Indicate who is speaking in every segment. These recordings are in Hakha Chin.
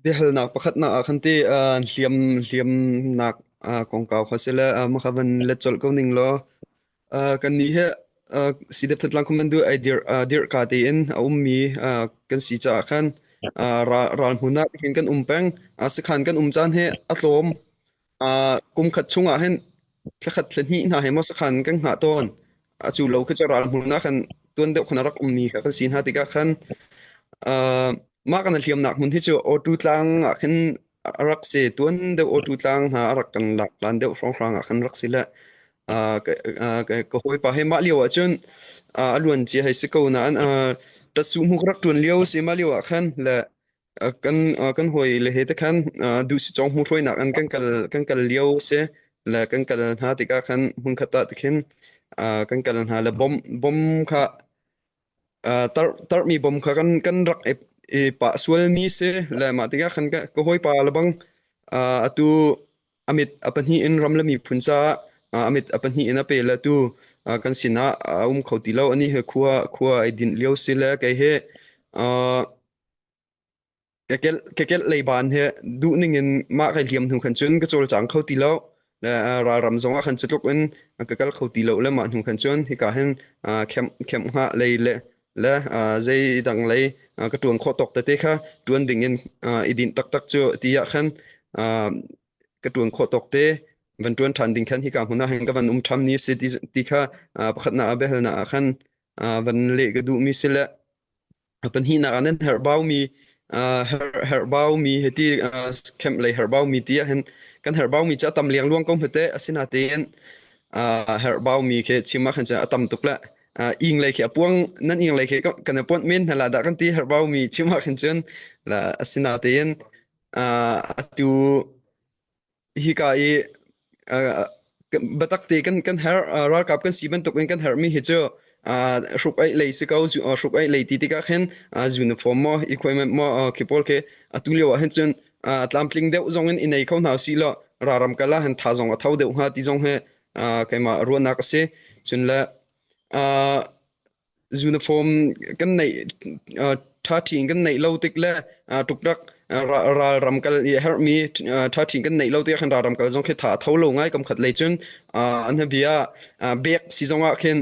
Speaker 1: Biahalnak pakhatnak ah khan ti uh, hliam hliamnak uh, kongkau kha si le uh, makha van let colh ko ning law uh, kan nih he uh, si dep that lang khuman du ai dir uh, dir ka te in a um mi uh, kan si cha khan uh, ral hmunak hin kan um peng uh, sakhan kan um chan he a tlawm Uh, kum khat chungah hin thlakhat thlahnih hna he maw sakhan kan hngah tawn a cu lo kha ral hmuna khan tuan deuh khona rak um mi kha kan sin ha tikah khan uh, mah kan hliam nak hmun hi chu otu tlang ah khin a rak se tuan deuh otu tlang hna a rak kan lak lan deuh hrang hrang ah khan rak si le uh, ka, uh, ka, ka hoi pa he mah lio ah chun uh, aluan chia hai se ko na an uh, ta su mu rak tuan lio se ma lio ah khan le Uh, kan uh, kan hoi le he te khan uh, du si chong mu hruai nak an kan kal kan kal lio se le kan kal hna ti ka khan hun khat ta ti khin uh, kan kal hna le bom bom kha uh, tar tar mi bom kha kan kan rak e, e pa sual mi se le ma ti ka khan ka ko hoi pa la bang uh, atu amit apani in ram le mi phunza uh, amit apani in ape la tu uh, kan sina uh, um kho ti lo ani he khua khua ai din liau se le kai he uh, Ka kelh lei baan hi duhning in mah kai hliam hnu khan cun ka cawlcang kho ti lo. Ralram zong ah khan cu tluk in ka kal kho ti lo le mah hnu khan cun hika hin camp nga lei le le zei dang lei ka ṭuan khawh tawk tete kha ṭuan ding in i dinh taktak cu ti ah khan ka ṭuan khawh tawk te van ṭuan ṭhan ding khan hika hmun ah hin ka van um ṭham ni si ti kha pakhatnak ah biahalnak ah khan van leh ka duhmi si le Pahnihnak ah nan herhbaumi herhbaumi hiti camp lei herhbaumi ti ahhin kan herhbaumi cu a tam liangluang ko hmete. Asinain herhbaumi khi chim ahkhan cun a tam tuk le ing lei khi a puang nan ing lei khi kan i puanh men hna la dah kan ti herhbaumi chim ahkhin cun asinain atu hika i biatak te kan kan herh ralkap kan si bantuk in kan herhmi hi cu hruk aih lei si ko hruk aih lei ti tikah khin uniform maw equipment maw khi pawl khi atu lio ah hin cun tlamtling deuh zong in i nei kho hna si law raram kal ah hin tha zong a tho deuh hnga ti zong hi keimah ruahnak a si cun le Uniform kan neih ṭha ṭhin kan neih lo tik le ṭukrak ralram kal i a herhmi ṭha ṭhin kan neih lo tikah khan ralram kal zong khi tha a tho lo ngai. Kamkhat lei cun an hnabi ah bek si zongah khin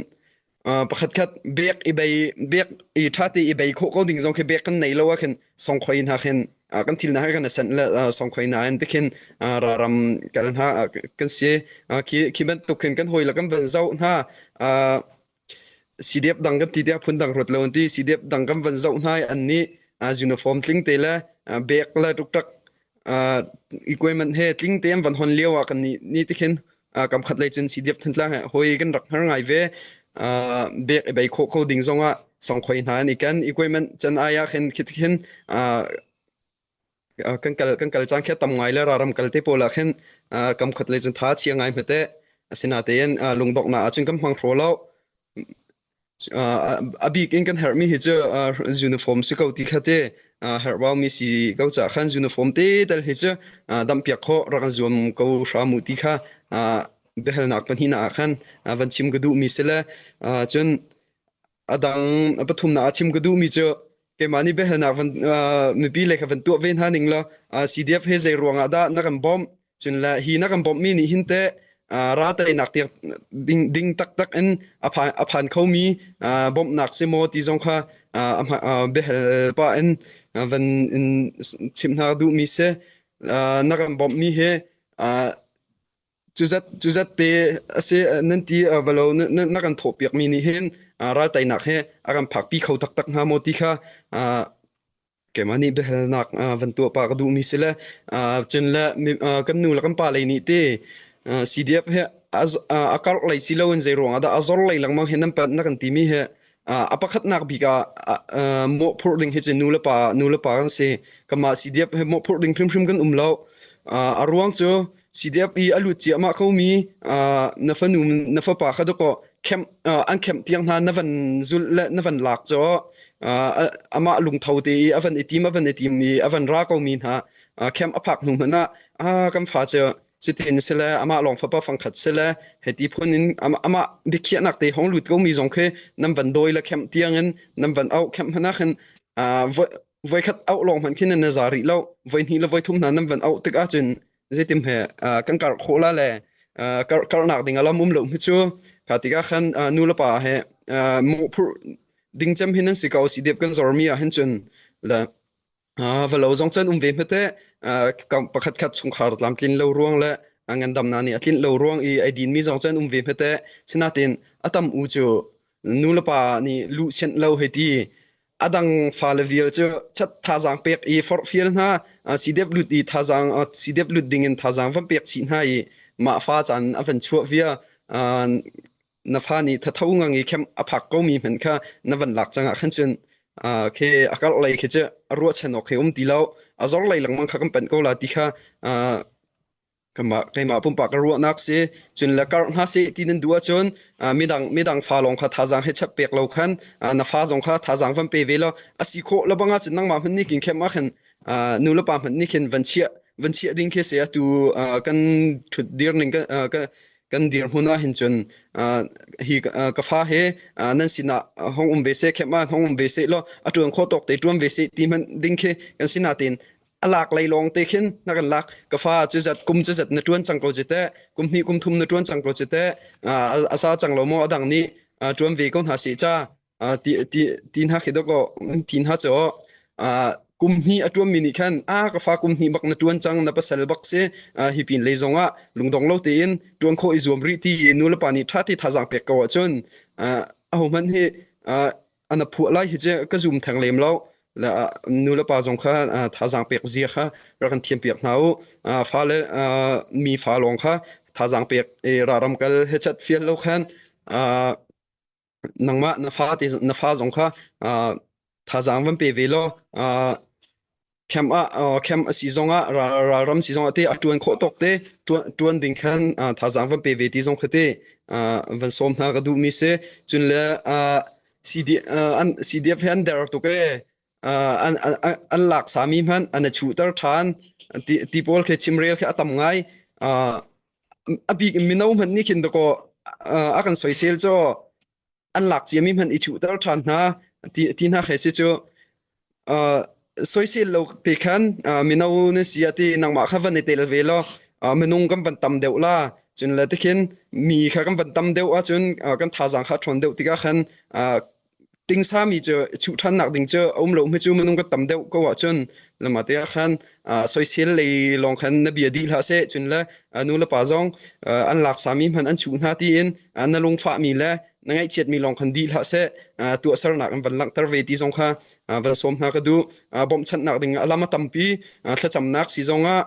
Speaker 1: pakhatkhat bek i bei bek i ṭhate i bei khawh ko ding zong khi bek kan nei lo ahkhin songkhoi hna khin kan thil hna hi kan senh le songkhoi hna in tikhin ralram kal hna kan si. Khi bantuk khin kan hawile kan van zoh hna Sidep dang kan ti tiah phun dang ruat lo an ti. Sidep dang kan van zoh hna i an nih uniform tling te le bag le tuktak equipment he tling te an van hon lio ah kan ni ni te khin kam khat lei cun sidep thantlang he hoi kan rak har ngai ve. Bag i bei khawh kho ding zong ah songkhoi hna an i ken. Equipment can ai ah khin khi ti khin kan kal cang khi a tam ngai le ram kal te pawl ah khin kam khat le cun tha a chia ngai hmete asinatein lungdoknak ahcun kan hmang hraw lo a bik in kan herhmi hi cu uniform si ko ti khate herhbaumi si ko cah khan uniform te tal hi cu dampiak kho rak an zuam ko hramu ti kha biahalnak pahnihna ah khan van chim ka duhmi si le cun Adang a pathumnak a chim ka duhmi cu keimah nih biahalnak van uh, mipi le kha van tuah ve hna ning law uh, CDF he zei ruangah dah na kan bawmh cun le hi na kan bawmhmi nih hin te uh, ra teinak tiak ding ding taktak in a phan, a phan khomi uh, bawmhnak si maw ti zong kha uh, a uh, biahal pa in uh, van in chim hna duhmi se uh, na kan bawmhmi he uh, Cuzat pe a si nan ti va lo na kan thawh piakmi nih hin raltainak hi a kan phakpi kho taktak hnga maw ti kha keimah nih biahalnak van tuah pah ka duhmi si le cun le kan nu le kan pa lei nih te CDF hi a karh lei si loin zeiruang ah dah a zor lei lengmang hi na kan timi hi a pakhatnak bik ah mawhphurh ding hi cu nulepa nulepa kan si kanmah CDF he mawhphurh ding hrimhrim kan um lo a ruang cu CDF i a lut ciahmah khomi na fanu na fapa kha dakaw camp an camp tiang hna na van zul le na van lak cu amah lungtho te i a van i tim a van i tim i a van ra komi hna camp a phak hnu hmanh ah kan fa cu Cutin si le amah lawng fapa fangkhat si le heti phun in amah biakhiahnak te hong lut komi zong khi nan van dawi le khem tiang in nan van auh khem hnanak in voikhat auh lawng hmanh khin na za rih lo voi hnih le voi thum hna nan van auh tik ahcun zeitim he kan kar khawh la le kar karnak ding alam um lo hi cu kha tikah khan nu le pa he mo phur ding cem hi nan si ko si dep kan zormi ah hin cun le Ah, va lo zong cun um ve hmete. Ah, kam pakhat khat chungkhar tlamtlin lo ruang le ah, ngandamna nih a tlin lo ruang i ai din mi zong cun um ve hmete. Sinatin atam u cu nu le pa nih lu sianh lo hei ti adang fale vial cu chat thazang pek i forhfial hna ah, si dep lut i thazang ah, si dep lut ding in thazang van pek chih hna i mah fa chan a van chuah via ah, na fa nih thatho ngang i camp a phak komi hmanh kha na van lak cangah khan cun khi a karh lei khi cu a ruahchan awk khi um ti lo a zor lei lengmang kha kan panh ko la ti kha kanmah keimah pumpak ka ruahnak si cun le karh hna si ti nan duh ahcun midang midang fa lawng kha thazang he chap pek lo khan na fa zong kha thazang van pe ve law a si khawh labang ah cun nangmah hman nih kin khem ah khan nu le pa hman nih khin van chiah van chiah ding khi se atu kan thut dir ning kan kan dirhmun ah hin cun uh, hi uh, ka fa he uh, nan sinah hong um ve se khem ah hong um ve se lo a tuan kho tok te tuan ve se ti man ding khi kan sina tin alak lei long te khin na kan lak ka fa chu zat kum chu zat na tuan chang ko jete kum ni kum thum na tuan chang ko jete asa chang lo mo adang ni tuan ve ko na si cha Ah, ti ti ti hna khi dawkaw ti hna cho ah kum hi a tuan mi nih khan a ka fa kum hi bak na tuan chang na pasal bak se ah hi pin le zong ah lungdong lo te in tuan kho i zuam ri ti i nu le pa ni tha ti tha jang pek ko a chun ah a ho man hi ah ana phu lai hi je ka zoom thang lem lo la nu le pa zong kha ah, tha jang pek zia kha ra kan thiam pek hna u ah fa le ah, mi fa long kha tha jang pek e ra ram kal he chat fiel lo khan ah nangmah na fa te na fa zong kha uh, thazaang van pe ve law uh, camp ah uh, camp a si zong ah ralram si zong ah te a tuan khawh tok te tuan ding khan uh, thazaang van pe ve ti zong khate uh, van som hna ka duh mi se chun le uh, CDF uh, an CDF he an der to ke an lak sami hmanh an a chuhter ṭhan ti pawl khi chimrel khi a tam ngai a bik in mino hmanh nih khin dakaw a kan soisel cu an lak ciami hmanh i chuhter ṭhan hna ti hna khi si cu soisel lo te khan mino na si a ti nangmah kha van i tel ve law minung kan van tam deuh la cun le tikhin mi kha kan van tam deuh ahcun kan thazaang kha ṭhawn deuh tikah khan tingsami cu chuh ṭhan nak ding cu a um lo hme cu minung ka tam deuh ko ahcun lama te ah khan soisel lei lawng khan na bia dih hlah seh cun le nu le pa zong an lak sami hman an chuh hna tiin na lungfah mi le na ngaihchiat mi lawng khan dih hlah seh tuahsernak an van langhter ve ti zong kha van sawm hna ka duh bawmhchanh nak ding alam a tampi thlacamnak si zong ah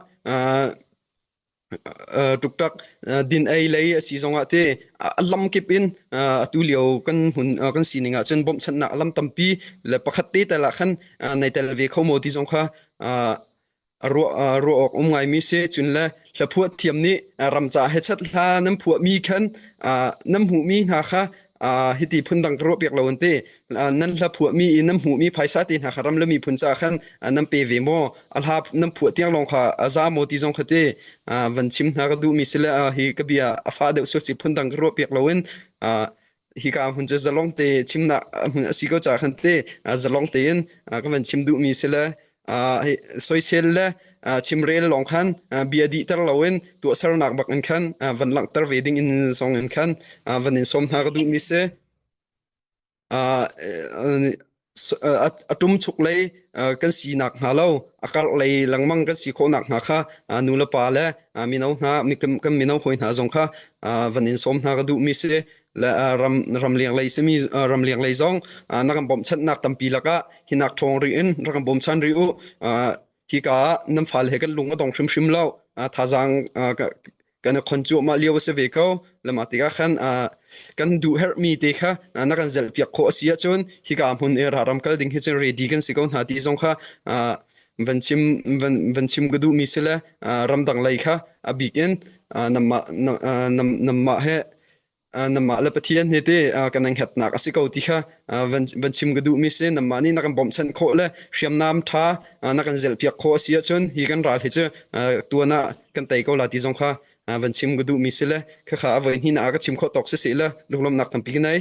Speaker 1: Tuktak din ei lei a si zongah te a lam kip in atu lio kan hmun kan sining ahcun bawmhchanhnak a lam tampi le pakhat te tal ah khan nei tel ve kho maw ti zong kha ruah ruah awk um ngaimi a si. Cun le hla phuah thiam nih ram caah hechat hla nan phuahmi khan nan hmuhmi hna kha uh, hiti phun dang ka ruah piak lo an ti uh, nan hla phuah mi nan hmuh mi phaisa te hna kha ram le mi phun ca khan uh, nan pe ve mo alha nan phuah tiang long kha aza mo ti zong khate uh, van chim hna ka du mi sile uh, hi ka bia afa deuh so si phun dang ka ruah piak lo in uh, hi ka hun che zalong te chimna hun asi ko cha khan te zalong te in ka van chim du mi sile soisel le chimrel lawng khan bia dihter loin tuahsernak bak in khan van langhter ve ding in zong in khan van in som hna ka duhmi si a tum chuk lei kan si nak hna lo a karh lei langmang kan si khawh nak hna kha nu le pa le mino hna kan mino hoi hna zong kha van in som hna ka duhmi si le ram ramleng lei simi ramleng lei zong na kan bawmchanhnak tampi lakah hinak ṭhawng ri in rak kan bawmchan rih u hika ah nan fale he kan lung a dong hrimhrim lo thazaang kan i khon cuahmah lio a si ve ko le mah tikah khan kan duh herhmi te kha na kan zelhpiak khawh a si ahcun hika hmun i raram kal ding hi cun ready kan si ko hna ti zong kha van chim van chim ka duhmi si le ramdang lei kha a bik in namah he Nangmah le Pathian he te kan in hetnak a si ko ti kha van chim ka duhmi si. Nangmah nih na kan bawmhchanh khawh le hriamnam ṭha na kan zelhpiak khawh a si ahcun hi kan ral hi cu tuan ah kan tei ko la ti zong kha van chim ka duhmi si le khakha a voi hnih na ka chim khawh tawk si si le lunglawmhnak tampi ka nei.